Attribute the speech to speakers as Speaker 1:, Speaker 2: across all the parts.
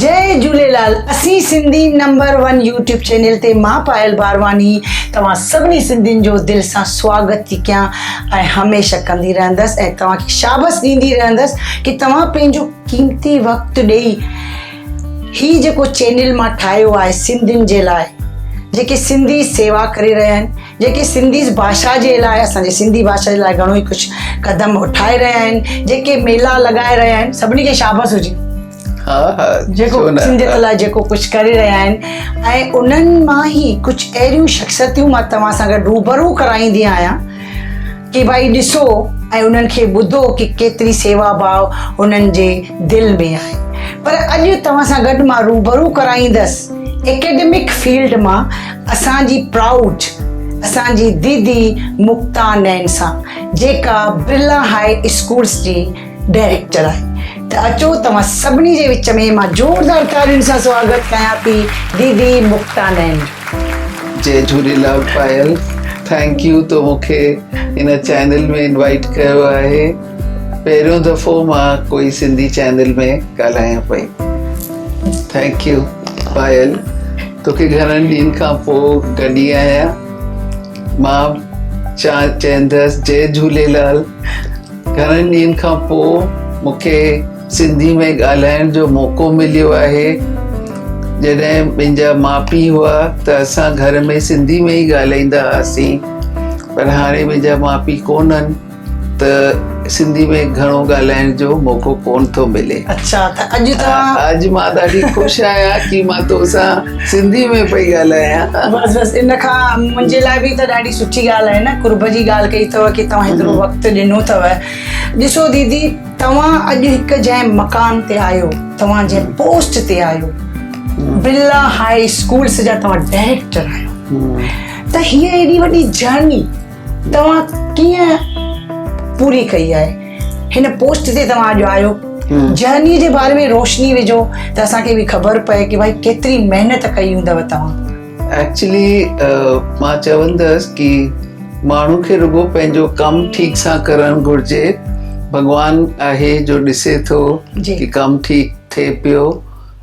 Speaker 1: جئي جھوليلال اسين Sindhi number one YouTube channel تي مان پايل بارواني توھان سڀني سنڌين جو دل سان سواگت ٿي ڪيان ۽ ھميشه ڪندي رھندس ۽ توھان کي شابس ڏيندي رھندس ڪي توھان پنھنجو قيمتي وقت ڏئي هي جيڪو چينل مان ٺاهيو آهي سنڌين جي لاء جيڪي سنڌي سيوا ڪري رهيا آهن جيڪي سنڌي باشا جي لاء اسان جي سنڌي باشا جي لاء گهڻو ئي ڪجهه قدم اٺائي رهيا آهن جيڪي ميلا لڳائي رهيا آهن سڀني کي شابس هجي ها ها جيڪو سنڌيت لاء جيڪو ڪجهه ڪري رهيا آهن ۽ انهن مان ئي ڪجهه اهڙيون شخصيتون مان توهان سان گڏ روبرو ڪرائيندي آهيان ڪي ڀائي ڏسو ۽ انهن کي ٻڌو ڪي ڪيتري سيوا ڀاء انهن جي دل ۾ آهي پر اڄ توهان سان گڏ مان روبرو ڪرائيندس اڪيڊمڪ فيلڊ مان اسان جي پرائوڊ اسان جي ديدي مڪتا نين سان جيڪا برلا هاء اسڪولس جي ڊائريڪٽ چرايو ته اچو توهان سڀني جي وچ ۾ مان زوردار تاڙين سان سواگت ڪيان ٿي ديدي مڪتا نعيم جو. جي
Speaker 2: جهوليلال پايل ٿينڪ يو تو مون کي هن چينل ۾ انوائيٽ ڪيو آهي پهريون دفعو مان ڪوئي سنڌي چينل ۾ ڳالهايان پئي ٿينڪ يو پايل توکي گهڻن ڏينهن کان پوء گڏي آهيان مان چا چيندس جي جهوليلال. گهڻن ڏينهن کان پوء مون کي سنڌي ۾ ڳالهائڻ جو موقعو مليو آهي جڏهن منهنجا ماء پيء هئا ته اسان گهر ۾ سنڌي ۾ ئي ڳالهائيندا هئاسين پر هاڻي منهنجا ماء پيء ڪونهن ته سنڌي ۾ گهڻو ڳالهائڻ جو موقعو ڪونه ٿو ملي اچا ته اڄ
Speaker 1: ته اڄ مان ڏاڍي خوش
Speaker 2: آهيان ڪي مان توسان سنڌي ۾ پئي ڳالهايان بس بس ان کان
Speaker 1: منهنجي لاء به ته ڏاڍي سٺي ڳالهه آهي نه قرب جي ڳالهه ڪئي اٿو ڪي توهان هيترو وقت ڏنو اٿو ڏسو ديدي توهان اڄ هڪ جنهن مقام تي آهيو توهان جنهن پوسٽ تي آهيو بلا هاء اسڪولس جا توهان ڊائريڪٽر آهيو ته هي ايڏي وڏي جرني توهان ڪيئن پوري ڪئي آهي هن پوسٽ تي توهان اڄ آيو جهني جي باري ۾ روشني وجهو ته اسان کي به خبر پئي ڪي ڀائي ڪيتري محنت ڪئي هوندو توهان ايڪچولي
Speaker 2: مان چوندس ڪي ماڻهو کي رڳو پنهنجو ڪم ٺيڪ سان ڪرڻ گهرجي ڀڳوان آهي جو ڏسي ٿو ڪي ڪم ٺيڪ ٿئي پيو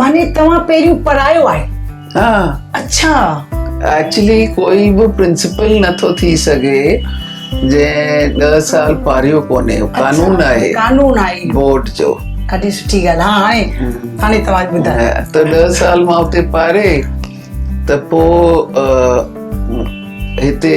Speaker 1: معني توهان پهريون پڙهايو آهي ها
Speaker 2: اڇا
Speaker 1: ايڪچولي
Speaker 2: ڪوئي به پرنسپل نه ٿو ٿي سگهي جنهن ڏهه سال پاريو ڪونهي قانون آهي قانون آهي بورڊ جو ڏاڍي سٺي ڳالهه
Speaker 1: ها هاڻي هاڻي توهان ٻڌايو ته ڏهه سال
Speaker 2: مان اتي پاري ته پوء هتي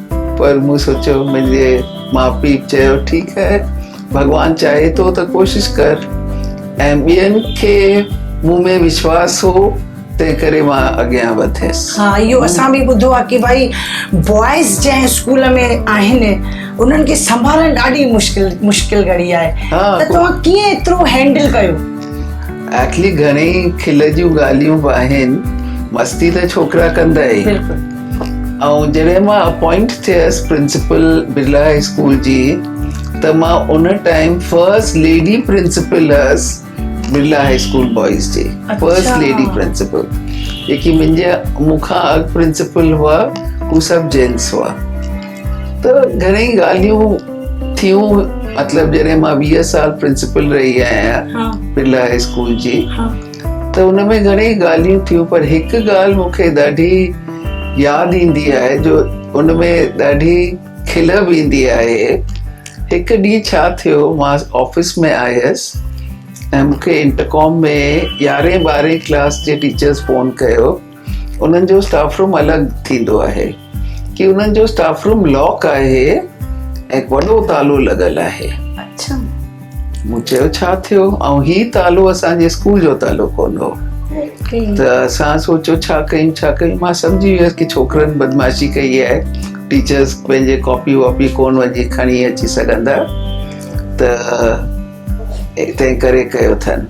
Speaker 2: پر مون سوچيو منهنجي ماء پيء چيو ٺيڪ هي ڀڳوان چاهي ٿو ته ڪوشش ڪر ۽ ٻين کي مون ۾ وشواس هو تنهن ڪري مان اڳيان وڌيس ها اهو اسان به
Speaker 1: ٻڌو آهي ڪي ڀائي بوائز جنهن اسڪول ۾ آهن انهن کي سنڀالڻ ڏاڍي مشڪل مشڪل گهڙي آهي ته توهان ڪيئن ايترو هينڊل ڪيو ايڪلي
Speaker 2: گهڻي کل جون ڳالهيون به آهن مستي ته ڇوڪرا ڪندا ئي بلڪل ۽ جڏهن مان اپوائنٽ ٿيس پرنسپل برلا هاء اسڪول جي ته مان ان ٽائيم فرسٽ ليڊي پرنسپل هيس برلا هاء اسڪول بوائز جي فرسٽ ليڊي پرنسپل جيڪي منهنجي مون کان اڳ پرنسپل هئا هو سڀ جينس هئا ته گهڻي ڳالهيون ٿيون مطلب جڏهن مان ويهه سال پرنسپل رهي آهيان برلا هاء اسڪول جي ته ان ۾ گهڻيئي ڳالهيون ٿيون پر هڪ ڳالهه مون کي ڏاڍي ياد ايندي آهي جو ان ۾ ڏاڍي کل به ايندي آهي هڪ ڏينهن ڇا ٿيو مان آفيس ۾ آيس ۽ مون کي انٽرڪام ۾ يارهين ٻارهين ڪلاس جي ٽيچرس فون ڪيو انهن جو اسٽاف روم الڳ ٿيندو آهي ڪي انهن جو اسٽاف روم لاڪ آهي ۽ وڏو تالو لڳل آهي اڇا
Speaker 1: مون
Speaker 2: چيو ڇا ٿيو ۽ هي تالو اسان جي اسڪول جو تالو ڪون هو ته اسان سوچو ڇا ڪيون ڇا ڪيون مان سمجهي ويس ڪي ڇوڪرن بدمعاشي ڪئي آهي ٽيچرس پنهنجي ڪاپي واپي ڪون وڃي کڻي اچي سگهندا ته تنهن ڪري ڪيو اٿن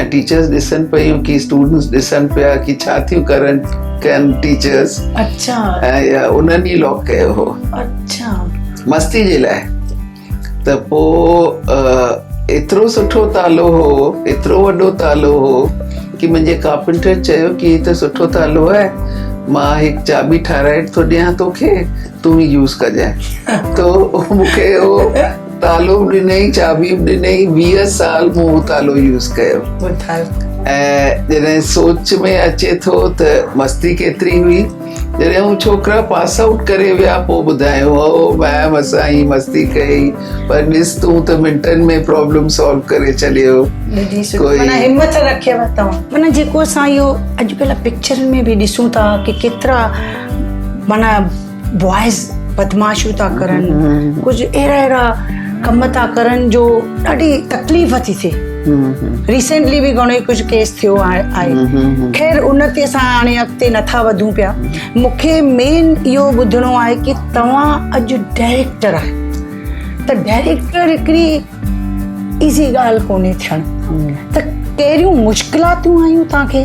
Speaker 2: ۽ ٽيچرس ڏسن پيون ڪي اسٽوڊنٽس ڏسن پيا ڪي ڇا ٿيون ڪرن ڪن ٽيچرس اچھا
Speaker 1: ۽ انهن
Speaker 2: ئي لاڪ ڪيو هو اچھا
Speaker 1: مستي جي
Speaker 2: لاء ته پوء ايترو سٺو تالو هو ايترو وڏو تالو هو ڪي منهنجي ڪارپنٽر چيو ڪي هي ته سٺو تالو آهي مان هڪ چاٻي ٺاهرائي ٿو ڏيان توکي تون هي يوز ڪجانء تو مونکي هو تالو به ڏنئي چاٻي به ڏنئي ويهه سال مون اهو تالو يوز ڪيو ۽ جڏهن سوچ ۾ اچي ٿو ته مستي ڪيتري هئي جڏهن هو ڇوڪرا پاس آئوٽ ڪري ويا پوء ٻڌايو هو ميم اسان هي مستي ڪئي پر ڏس تون ته منٽن ۾ پرابلم سالو ڪري ڇڏيو همت
Speaker 1: رکيو توهان معنی جيڪو اسان اهو اڄڪلهه پڪچرن ۾ به ڏسون ٿا ڪي ڪيترا معنی بوائز بدمعاشيون ٿا ڪرن ڪجهه اهڙا اهڙا ڪم ٿا ڪرن جو ڏاڍي تڪليف ٿي ٿئي ريسنٽلي به گھڻو ڪجهه ڪيس ٿيو آهي خير ان تي اسان هاڻي اڳتي نٿا وڌون پيا مونکي مين اهو ٻڌڻو آهي ڪي توهان اڄ ڊائريڪٽر آهي ته ڊائريڪٽر هڪڙي ايزي ڳالهه ڪونهي ٿيڻ ته ڪهڙيون مشڪلاتون آيون توهان کي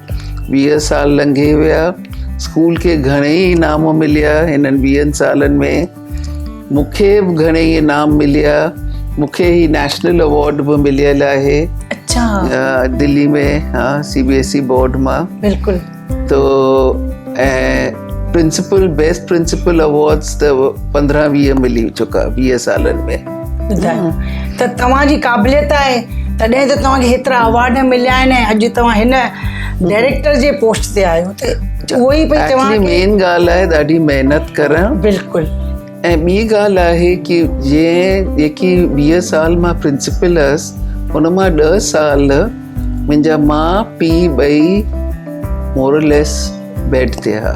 Speaker 2: ويهه سال لنگهي ويا، اسڪول کي گهڻيئي انعام مليا، هنن ويهن سالن ۾ مون کي به گهڻيئي انعام مليا، مون کي هي نيشنل اوارڊ به مليل آهي. اچا.
Speaker 1: دلي ۾
Speaker 2: ها C B S E board مان. بلڪل. تو ۽ پرنسپل بيسٽ پرنسپل اوارڊز ته پندرهن ويهه ملي چڪا ويهه سالن ۾. ٻڌايو
Speaker 1: ته توهان جي قابليت آهي تڏهن ته توهان کي هيترا اوارڊ مليا آهن ۽ اڄ توهان هن ڊائريڪٽر جي پوسٽ تي آهيو ته اهو ئي پئي چواں ته مين ڳالهه آهي ڏاڍي
Speaker 2: محنت ڪرڻ بلڪل
Speaker 1: ۽ ٻي
Speaker 2: ڳالهه آهي ڪي جنهن جيڪي ويهه سال مان پرنسپل هيس ان مان ڏه سال منهنجا ماء پيء ٻئي مورليس بيڊ تي هئا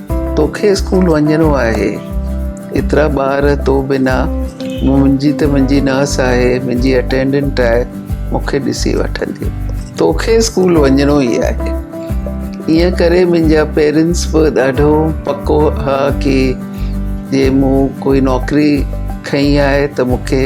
Speaker 2: توکي اسڪول وڃڻو آهي. ايترا ٻار تو بنا منهنجي ته منهنجي ناس آهي منهنجي اٽينڊنٽ آهي مون کي ڏسي وٺندي. توکي اسڪول وڃڻو ئي آهي. ائين ڪري منهنجا پيرنٽس به ڏاڍو پڪو ها ڪي جي مون ڪوئي نوڪري کنئي آهي ته مون کي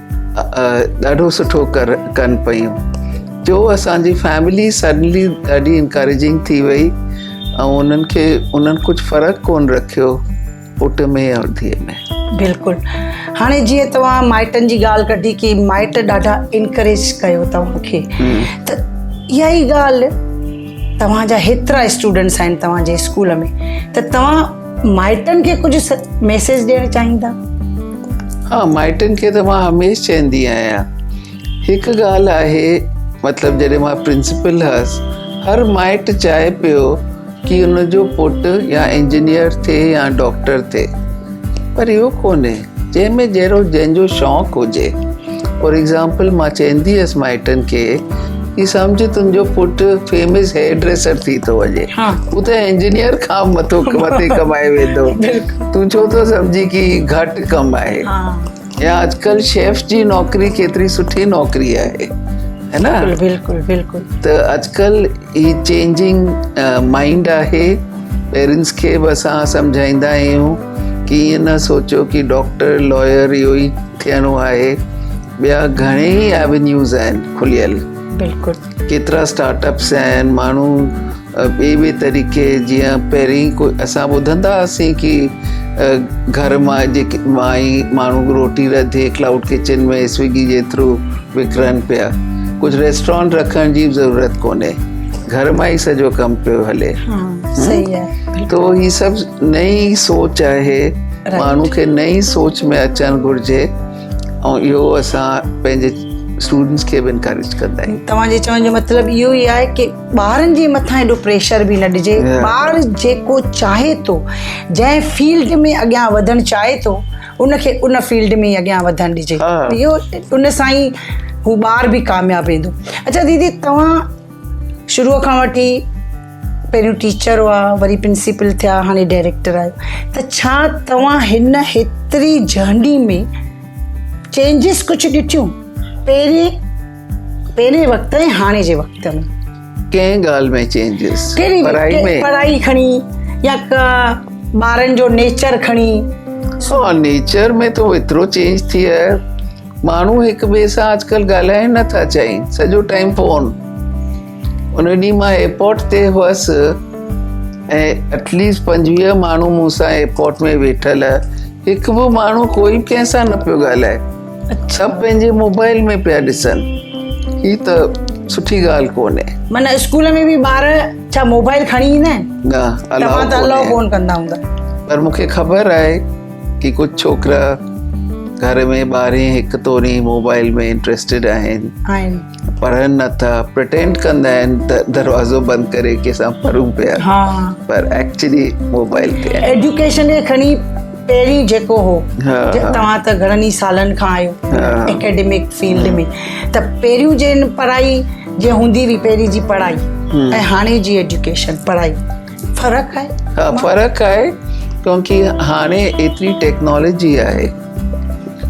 Speaker 2: ڏاڍو سٺو ڪن پيون ٽيو اسانجي فيملي سڊنلي ڏاڍي انڪريجنگ ٿي وئي ۽ انهن کي انهن ڪجهه فرق ڪون رکيو پٽ ۾ يا ڌيء ۾ بلڪل
Speaker 1: هاڻي جيئن توهان مائٽن جي ڳالهه ڪڍي ڪي مائٽ ڏاڍا انڪريج ڪيو توهان کي ته اها ئي ڳالهه توهان جا هيترا اسٽوڊنٽس آهن توهان جي اسڪول ۾ ته توهان مائٽن کي ڪجهه ميسيج ڏيڻ چاهيندا
Speaker 2: ها مائٽن کي ته مان هميشه چوندي آهيان هڪ ڳالهه آهي مطلب جڏهن مان پرنسپل هئس هر مائٽ چاهي پيو ڪي ان جو پٽ يا انجنيئر ٿئي يا ڊاڪٽر ٿئي پر اهو ڪونهي جنهن ۾ جهڙو جنهن جو شوق هجي. فار ايگزامپل مان چيندي هيس مائٽن کي هي سمجهه تنهنجو پٽ فيمس هيئر ڊريسر ٿي ٿو وڃي. هو ته انجنيئر کان مٿو مٿي ڪمائي ويندو. تون ڇو ٿو سمجهين ڪي هي گهٽ ڪم آهي. يا اڄڪلهه شيف جي نوڪري ڪيتري سٺي نوڪري آهي. هي نه. بلڪل بلڪل.
Speaker 1: ته اڄڪلهه
Speaker 2: هي چينجنگ مائنڊ آهي. پيرنٽس کي به اسان سمجهائيندا آهيون. ڪيئن نه سوچيو ڪي ڊاڪٽر لائر اهو ئي ٿيڻو آهي ٻيا گهڻي ئي ايونيوز آهن کليل بلڪل
Speaker 1: ڪيترا اسٽارٽ
Speaker 2: اپس آهن ماڻهو ٻي ٻي طريقي جيئن پهرين ڪو اسان ٻڌندا هئاسين ڪي گهر مان جيڪي مائي ماڻهو روٽي رڌي ڪلائوڊ ڪچن ۾ سوئگي جي ٿرو وڪرن پيا ڪجهه ريسٽورانٽ رکڻ جي ضرورت ڪونهي گهر مان ئي سڄو ڪم پيو هلي
Speaker 1: تو هي سڀ
Speaker 2: نئين سوچ آهي ماڻهو کي نئين سوچ ۾ اچڻ گهرجي ۽ اهو اسان پنهنجي اسٽوڊنٽس کي به انڪريج ڪندا آهيون توهان جي چوڻ جو مطلب
Speaker 1: اهو ئي آهي ڪي ٻارن جي مٿان ايڏو پريشر به نه ڏجي ٻار جيڪو چاهي ٿو جنهن فيلڊ ۾ اڳيان وڌڻ چاهي ٿو ان کي ان فيلڊ ۾ اڳيان وڌڻ ڏجي اهو ان سان ئي هو ٻار به ڪامياب ويندو اچا ديدي توهان شروع کان وٺي پهريون ٽيچر هئا وري پرنسپل ٿيا هاڻي ڊائريڪٽر آهيو ته ڇا توهان هن هيتري جهنڊي ۾ چينجز ڪجهه ڏٺيون پهرين پهرين وقت ۽ هاڻي جي وقت ۾ ڪنهن ڳالهه
Speaker 2: ۾ چينجز پڙهائي ۾ پڙهائي
Speaker 1: کڻي يا ٻارن جو نيچر کڻي سو نيچر
Speaker 2: ۾ تو ايترو چينج ٿي آهي ماڻهو هڪ ٻئي سان اڄڪلهه ڳالهائين نٿا چاهين سڄو ٽائيم فون ان ڏينهن مان ايئرپورٽ تي هئس ۽ ايٽليسٽ پنجويهه ماڻهو مون سان ايئرپورٽ ۾ ويٺل هڪ به ماڻهو ڪوئي به ڪنهن سان نه پيو ڳالهائي سڀ پنهنجي موبائل ۾ پيا ڏسن هي ته سٺي ڳالهه ڪونهي معنی اسڪول ۾ به ٻار
Speaker 1: ڇا موبائل کڻي ايندا آهن نه الاؤ ته الاؤ
Speaker 2: ڪونهي
Speaker 1: ڪندا هوندا پر مون کي
Speaker 2: خبر آهي ڪي ڪجهه ڇوڪرا گهر ۾ ٻارهين هڪ توڙي موبائل ۾ انٽريسٽيڊ آهن آهن پر نه ته پرٽينڊ ڪندا آهن ته دروازو بند ڪري ڪي سان پرون پيا ها پر ايڪچولي موبائل تي ايڊيوڪيشن کي کڻي
Speaker 1: پهرين جيڪو هو توهان ته گهڻن ئي سالن کان آهيو اڪيڊمڪ فيلڊ ۾ ته پهريون جن پڙهائي جي هوندي هئي پهرين جي پڙهائي ۽ هاڻي جي ايڊيوڪيشن پڙهائي فرق آهي ها فرق آهي
Speaker 2: ڪيونڪي هاڻي ايتري ٽيڪنالاجي آهي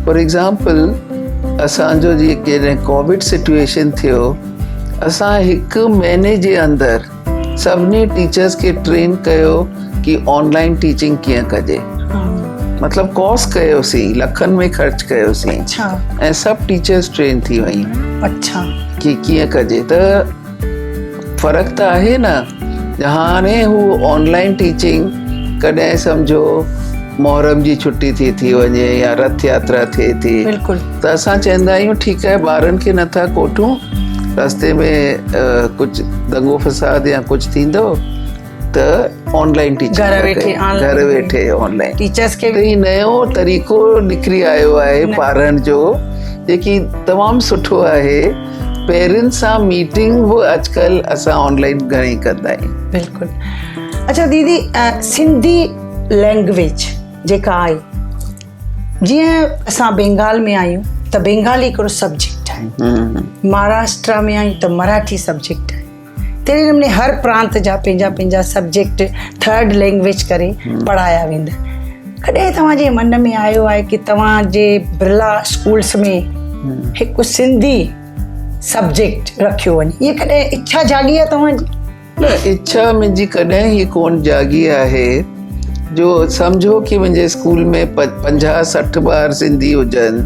Speaker 2: فار ايگزامپل اسانجو جيڪي ڪووڊ سچويشن ٿيو اسان هڪ مهيني جي اندر سڀني ٽيچرس کي ٽرين ڪيو ڪي آنلائن ٽيچنگ ڪيئن ڪجي مطلب ڪوس ڪيوسين لکن ۾ خرچ ڪيوسين ۽ سڀ ٽيچرس ٽرين ٿي ويون اچا ڪي
Speaker 1: ڪيئن ڪجي
Speaker 2: ته فرق ته آهي نه هاڻي هو آن لائن ٽيچنگ ڪڏهن سمجهو محرم جي ڇٽي ٿي ٿي وڃي يا رٿ ياترا ٿئي ٿي ته اسان چوندا آهيون ٺيڪ آهي ٻارن کي نٿا ڪوٺون رستي ۾ ڪجهه دنگو فساد يا ڪجهه ٿيندو ته آن لائن ٽيچر گهر ويٺي آن لائن ٽيچرس کي به نيو
Speaker 1: طريقو
Speaker 2: نڪري آيو آهي پارن جو جيڪي تمام سٺو آهي پيرن سان ميٽنگ به اڄڪل اسان آن لائن گهڻي ڪندا آهيون بلڪل
Speaker 1: اچھا ديدي سنڌي لينگويج جيڪا آهي جيئن اسان بينگال ۾ آهيون ته بينگالي هڪڙو سبجيڪٽ آهي مهاراشٽرا ۾ آهيون ته مراٺي سبجيڪٽ آهي تهڙي نموني هر پرانت جا پنهنجا پنهنجا سبجيڪٽ ٿرڊ لينگويج ڪري پڙهايا ويندا ڪڏهن توهان جي من ۾ آيو آهي ڪي توهان جي برلا اسڪولس ۾ هڪ سنڌي سبجيڪٽ رکيو وڃي هي ڪڏهن اڇا جاڳي آهي توهان جي اڇا
Speaker 2: منهنجي ڪڏهن هي ڪون جاڳي آهي جو سمجهو ڪي منهنجي اسڪول ۾ پنجاهه سٺ ٻار سنڌي هجن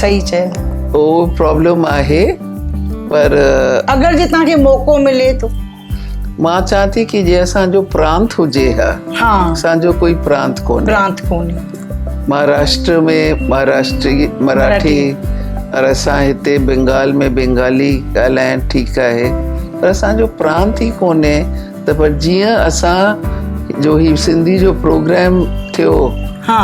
Speaker 2: صحيح چيو
Speaker 1: هو پرابلم
Speaker 2: آهي پر اگر جي
Speaker 1: تان کي موقعو ملي ٿو مان چاهيان
Speaker 2: ٿي ڪي جي اسان جو پرانت هجي ها ها اسان جو ڪوئي
Speaker 1: پرانت
Speaker 2: ڪونهي پرانت ڪونهي مهاراشٽر ۾ مهاراشٽري مراٺي پر اسان هتي بنگال ۾ بنگالي ڳالهائڻ ٺيڪ آهي پر اسان جو پرانت ئي ڪونهي ته پر جيئن اسان جو هي سنڌي جو پروگرام ٿيو ها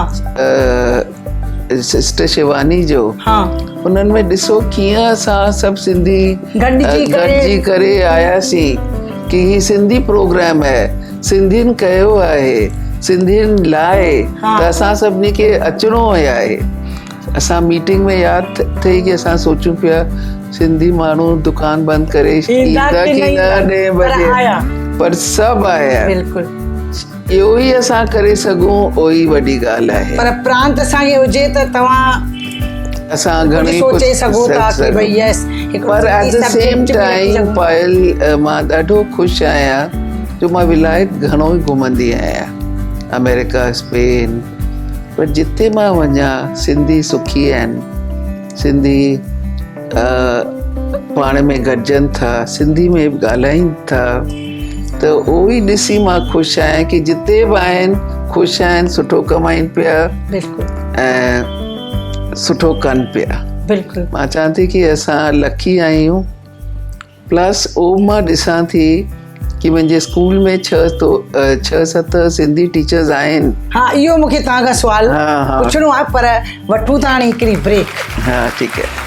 Speaker 2: سسٽر شيواني جو ها انهن
Speaker 1: ۾ ڏسو
Speaker 2: ڪيئن اسان سڀ سنڌي گڏجي ڪري آياسين ڪي هي سنڌي پروگرام آهي سنڌين ڪيو آهي سنڌين لاء ته اسان سڀني کي اچڻو هي آهي اسان ميٽنگ ۾ ياد ٿئي ڪي اسان سوچون پيا سنڌي ماڻهو دڪان بند ڪري ايندا ڪي نه ڏهين بجي پر سڀ آيا بلڪل
Speaker 1: اهو ئي
Speaker 2: اسان ڪري سگهون اهوئي وڏي ڳالهه آهي. پر پرانت اسان کي هجي
Speaker 1: ته توهان اسان گهڻي
Speaker 2: سوچي سگهو ٿا ڪي
Speaker 1: ڀئي يس هڪ پر at the
Speaker 2: same time Payal مان ڏاڍو خوش آهيان جو مان ولايت گهڻو ئي گهمندي آهيان آمريڪا اسپين پر جتي مان وڃان سنڌي سکي آهن سنڌي پاڻ ۾ گڏجن ٿا سنڌي ۾ به ڳالهائين ٿا ته اهو ئي ڏسي مان خوش آهيان ڪي جتي به آهن خوش آهن سٺو ڪمائين پيا بلڪل ۽ سٺو ڪن پيا بلڪل مان چوان
Speaker 1: ٿي ڪي
Speaker 2: اسان لڪي آهيون پلس او مان ڏسان ٿي ڪي منهنجي اسڪول ۾ ڇهه تو ڇهه ست سنڌي ٽيچرز آهن ها اهو مونکي توهان
Speaker 1: کان سوال پڇڻو آهي پر وٺون ٿا هاڻي هڪڙي بريڪ ها ٺيڪ
Speaker 2: آهي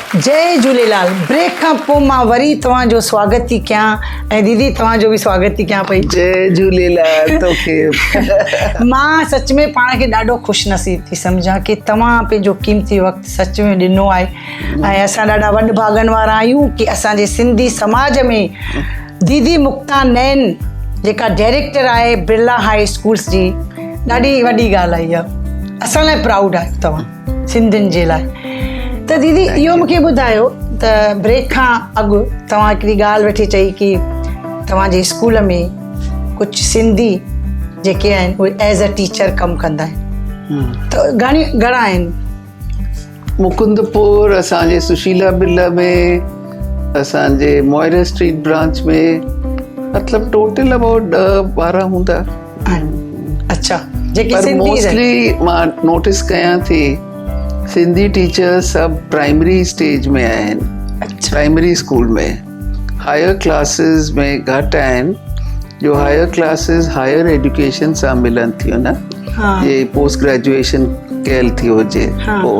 Speaker 1: جئي جھوليلال بريڪ کان پو مان وري توھان جو سواگت ٿي ڪيان ۽ ديدي توھان جو به سواگت ٿي ڪيان پئي جئي جھوليلال
Speaker 2: توکي مان سچ
Speaker 1: ۾ پاڻ کي ڏاڍو خوش نصيب ٿي سمجھان ڪي توھان پنھنجو قيمتي وقت سچ ۾ ڏنو آھي ۽ اسان ڏاڍا وڏ ڀاڳن وارا آھيون ڪي اسان جي سنڌي سماج ۾ ديدي مڪتا نين جيڪا ڊيريڪٽر آھي برلا ھائي اسڪولس جي ڏاڍي وڏي ڳالھ آھي اھا اسان لاء پرائوڊ آھيو توھان سنڌين جي لاء ته ديدي اهو مونکي ٻڌايو ته بريڪ کان اڳ توهان هڪڙي ڳالهه ويٺي چئي ڪي توهان جي اسڪول ۾ ڪجهه سنڌي جيڪي آهن اهي ايز ا ٽيچر ڪم ڪندا آهن ته گهڻي گهڻا آهن مڪند
Speaker 2: پور اسان جي سشيلا بلا ۾ اسان جي موئر اسٽريٽ برانچ ۾ مطلب ٽوٽل اباؤٽ ڏهه ٻارهن هوندا
Speaker 1: اچا جيڪي سنڌي رهي مان
Speaker 2: نوٽس ڪيان ٿي سنڌي ٽيچر سڀ پرائمري اسٽيج ۾ آهن پرائمري
Speaker 1: اسڪول ۾
Speaker 2: هائر ڪلاسز ۾ گهٽ آهن جو هائر ڪلاسز هائر ايڊيوڪيشن سان ملن ٿيون نه جي پوسٽ گريجويشن ڪيل ٿي هجي پوء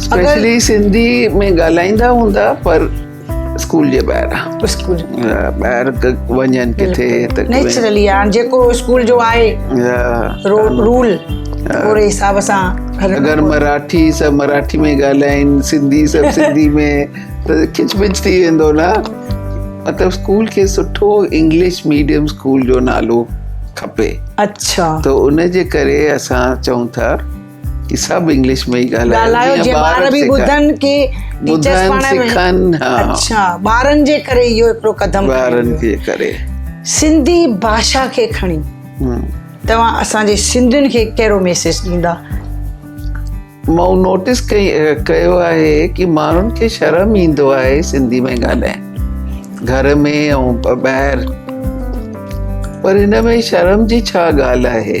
Speaker 1: اسپيشلي
Speaker 2: سنڌي ۾ ڳالهائيندا هوندا پر اسڪول جي ٻاهران اسڪول ٻاهر وڃن ڪٿي ته نيچرلي هاڻ جيڪو
Speaker 1: اسڪول جو آهي رول اهڙي حساب سان اگر مراٺي
Speaker 2: سب مراٺي ۾ ڳالهائين سنڌي سب سنڌي ۾ ته کچ پچ ٿي ويندو نه مطلب اسڪول کي سٺو انگلش ميڊيم اسڪول جو نالو کپي اچھا ته
Speaker 1: ان جي
Speaker 2: ڪري اسان چئون ٿا سڀ انگلش ۾ ئي ڳالهايو جي ٻار به ٻڌن
Speaker 1: ڪي ٽيچرز پاڻ سکن اچھا ٻارن جي ڪري اهو هڪڙو قدم ٻارن جي ڪري
Speaker 2: سنڌي
Speaker 1: باشا کي کڻي توهان اسان جي سنڌين کي ڪهڙو ميسيج ڏيندا
Speaker 2: مون نوٽيس ڪئي ڪيو آهي ڪي ماڻهن کي شرم ايندو آهي سنڌي ۾ ڳالهائي گهر ۾ او ٻاهر پر هن ۾ شرم جي ڇا ڳالهه آهي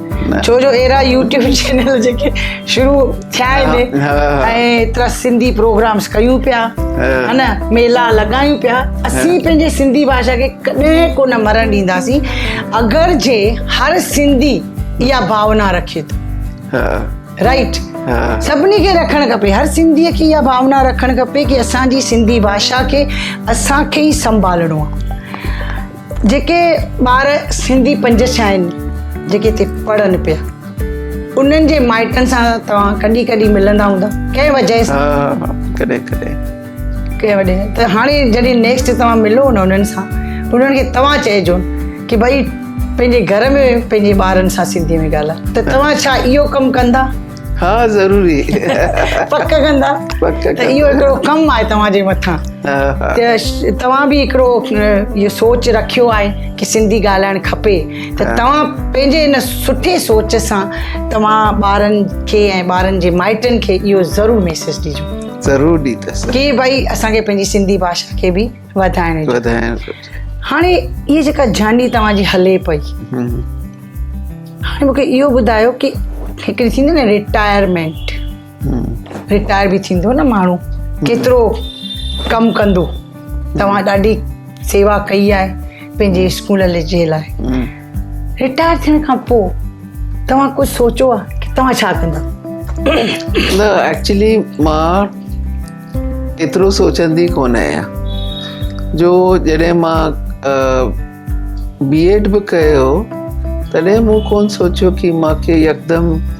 Speaker 1: ڇو جو اهڙا يوٽيوب چينل جيڪي شروع ٿيا آهن ۽ ايترا سنڌي پروگرامس ڪيون پيا ها نه ميلا لڳايون پيا اسين پنهنجي سنڌي باشا کي ڪڏهن ڪونه مرڻ ڏينداسين اگر جي هر سنڌي اها ڀاونا رکي ٿو رائٽ سڀني کي رکڻ کپي هر سنڌي کي اها ڀاونا رکڻ کپي ڪي اسان جي سنڌي باشا کي اسان کي ئي سنڀالڻو آهي جيڪي ٻار سنڌي پنج ڇهه آهن جيڪي هتي پڙهن پيا انهن جي مائٽن سان توهان ڪڏهن ڪڏهن ملندا هوندا ڪنهن وجهه سان ها ڪڏهن ڪڏهن ڪنهن وجهه سان ته هاڻي جڏهن نيڪسٽ توهان ملو نه انهن سان انهن کي توهان چئجو ڪي ڀئي پنهنجي گهر ۾ پنهنجي ٻارن سان سنڌي ۾ ڳالهاء ته توهان ڇا اهو ڪم ڪندا ها ضروري
Speaker 2: پڪ
Speaker 1: ڪندا پڪ ته اهو هڪڙو ڪم آهي توهان جي مٿان توهان به هڪڙو اهو سوچ رکيو آهي ڪي سنڌي ڳالهائڻ کپي ته توهان پنهنجي ان سٺي سوچ سان توهان ٻارن کي ۽ ٻارن جي مائٽن کي اهو ضرور ميسيج ڏجو ضرور ڏيندس
Speaker 2: ڪي ڀائي اسان کي پنهنجي
Speaker 1: سنڌي ڀاشا کي به وڌائڻ جو وڌائڻ جو هاڻي هي جيڪا جاني توهان جي هلي پئي هاڻي مونکي اهو ٻڌايو ڪي هڪڙي ٿيندي نه رٽائرمينٽ رٽائر به ٿيندو نه ماڻهو ڪيترو ڪم ڪندو توهان ڏاڍي سيوا ڪئي آهي پنهنجي اسڪول جي لاء رٽائر ٿيڻ کان پوء توهان ڪجهه سوچيو آهي ته توهان ڇا ڪندا؟
Speaker 2: نه ايڪچولي مان ايترو سوچندي ڪونه آهيان جو جڏهن مان بي ايڊ به ڪيو تڏهن مون ڪونه سوچيو ڪي مانکي يڪدم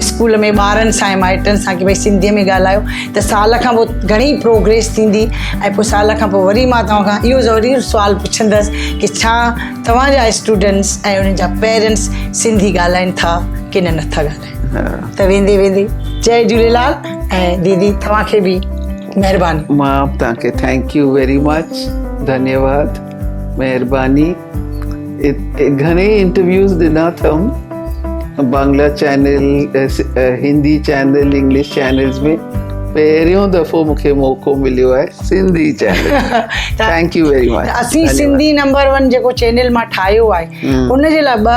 Speaker 2: اسڪول
Speaker 1: ۾ ٻارن سان ۽ مائٽن سان ڪي ڀائی سنڌيء ۾ ڳالهايو ته سال کان پوء گهڻي پروگريس ٿيندي ۽ پوء سال کان پوء وري مان توهان کان اهو ضروري سوال پڇندس ڪي ڇا توهان جا اسٽوڊنٽس ۽ انهن جا پيرنٽس سنڌي ڳالهائين ٿا ڪي نه نه ٿا ڳالهائين ته ويندي ويندي جي جهوليلال ۽ ديدي توهان کي به مهرباني مان توهان کي
Speaker 2: ٿينڪ يو ويري مچ ڌنيواد مهرباني گهڻي انٽرويوز ڏنا اٿم Bangla channel Hindi channel English channels ۾ پهريون دفعو مونکي موقعو مليو آهي Sindhi channel thank you very much اسين سنڌي نمبر
Speaker 1: 1 جيڪو چينل مان ٺاهيو آهي ان جي لاء ٻه